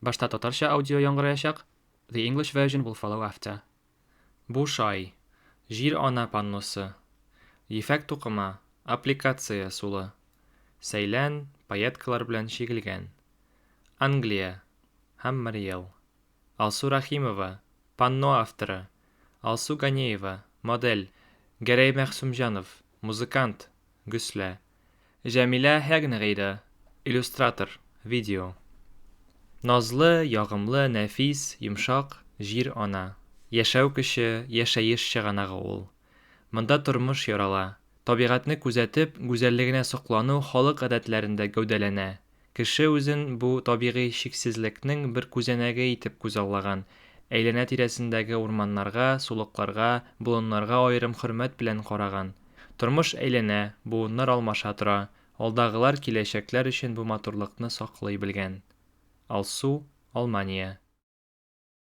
Башта татарча аудио яңгыраячак, the English version will follow after. Бушай, җир-ана панносы, ефәк тукыма, аппликация, сулы, сәйлән, пайеткалар белән чигелгән. Англия, Хаммариел. Алсу Рәхимова, панно авторы, Алсу Ганеева, модель, Гәрәй Мәгъсүмҗанов, музыкант, Гөслә, Җәмилә Һәгнегыйда, иллюстратор, видео. Назлы, ягымлы, нәфис, йомшак, җир ана. Яшәү көче, яшәеш чыганагы ул. Монда тормыш ярала. Табигатьне күзәтеп, гүзәллегенә соклану халык гадәтләрендә гәүдәләнә, Кеше үзен бу табигый чиксезлекнең бер күзәнәге итеп күзаллаган, әйләнә-тирәсендәге урманнарга, сулыкларга, болыннарга аерым хөрмәт белән караган. Тормыш әйләнә, буыннар алмаша тора, алдагылар, киләчәкләр өчен бу матурлыкны саклый белгән. Алсу, Алмания.